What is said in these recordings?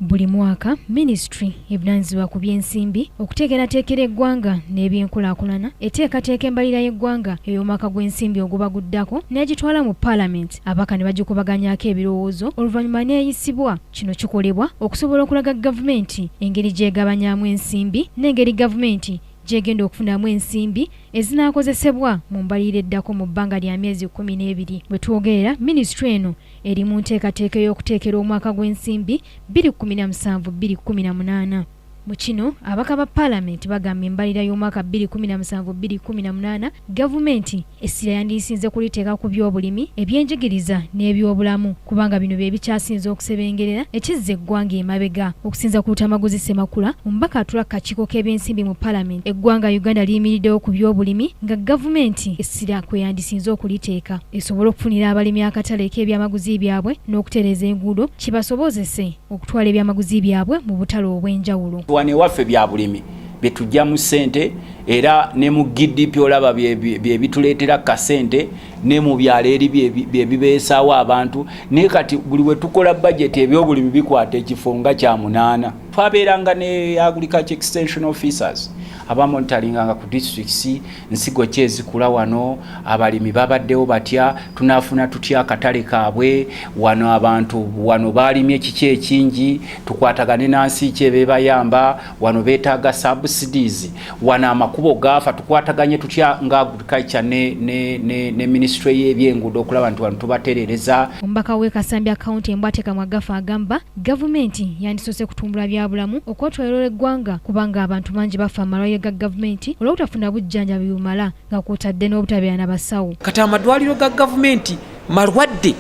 Buli mwaka minisitule evunaanyizibwa ku by'ensimbi okuteekerateekera eggwanga n'ebyenkulaakulana eteekateeka embalira y'eggwanga ey'omwaka gw'ensimbi oguba guddako n'egitwala mu paalamenti abaka ne bagikubaganyaako ebirowoozo oluvannyuma n'eyisibwa. Kino kikolebwa okusobola okulaga gavumenti engeri gy'egabanyaamu ensimbi n'engeri gavumenti gy'egenda okufunamu ensimbi ezinaakozesebwa mu mbalirira eddako mu bbanga lya myezi kkumi n'ebiri. We twogerera minisitule eno eri mu nteekateeka ey'okuteekera omwaka gw'ensimbi 2017-2018. Mu kino abaka ba paalamenti bagamba embalira y'omwaka 2017-2018 gavumenti essira yandiyisinze kuliteeka ku byobulimi ebyenjigiriza n'ebyobulamu kubanga bino bye bikyasinze okusebengerera ekizza eggwanga emabega okusinza ku lutamaguzi ssemakula omubaka atula ku kakiiko k'ebyensimbi mu paalamenti eggwanga uganda liyimiriddewo ku byobulimi nga gavumenti essira kwe yandisinze okuliteeka esobole okufunira abalimi akatale k'ebyamaguzi byabwe n'okutereeza enguudo kibasobozese okutwala ebyamaguzi byabwe mu butale obw'enjawulo wano ewaffe bya bulimi bye tujjamu ssente era ne mu gdp olaba bye bituleetera kasente ne mu byalo eri bye bibeesaawo abantu naye kati buli we tukola bajeti ebyobulimi bikwata ekifo nga kya munaana twabeeranga ne agriculture extension officers abamonitaringanga ku districts nsigo ki ezikula wano abalimi babaddewo batya tunafuna tutya akatale kaabwe wano abantu wano baalimye kiki ekingi tukwatagane nansi ki ebebayamba wano betaaga subsidies wano amakubo gaafa tukwataganye tutya nga agriculture ne, ne, ne, ne ministry y'ebyenguudo okulaba nti wano tubaterereza omubaka w'e kasambya county embwatekamwa gafa agamba Gavumenti yandisoose kutumbula byabulamu okwetwaliro eggwanga kubanga abantu bangi bafa mu malwaliro ga gavumenti olw'obutafuna bujjanjabi bumala nga kwotadde n'obutabeera na basawo. Kati amadwaliro ga gavumenti malwadde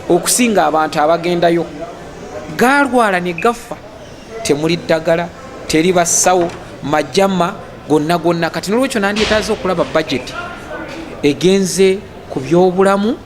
okusinga abantu abagendayo gaalwala ne gaffa temuli ddagala teri basawo majama gonna gonna kati nolwekyo nandyetaaze okulaba bajeti egenze ku byobulamu.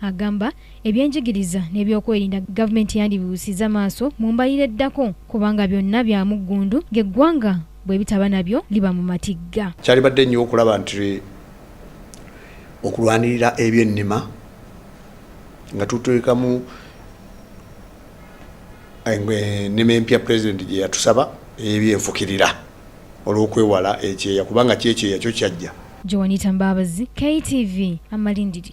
Agamba ebyenjigiriza n'ebyokwerinda gavumenti yandibibuusizza maaso mu mbalira eddako kubanga byonna bya muggundu ng'eggwanga bwe bitaba nabyo liba mu matigga. Kyalibadde nnyo okulaba nti okulwanirira ebyennima nga tuteekamu ennima empya pulezidenti gye yatusaba ey'ebyenfukirira olw'okwewala ekyeya kubanga kyekyeya kyo kyajja. Joanita Mbabazi, KTV, Amalindiri.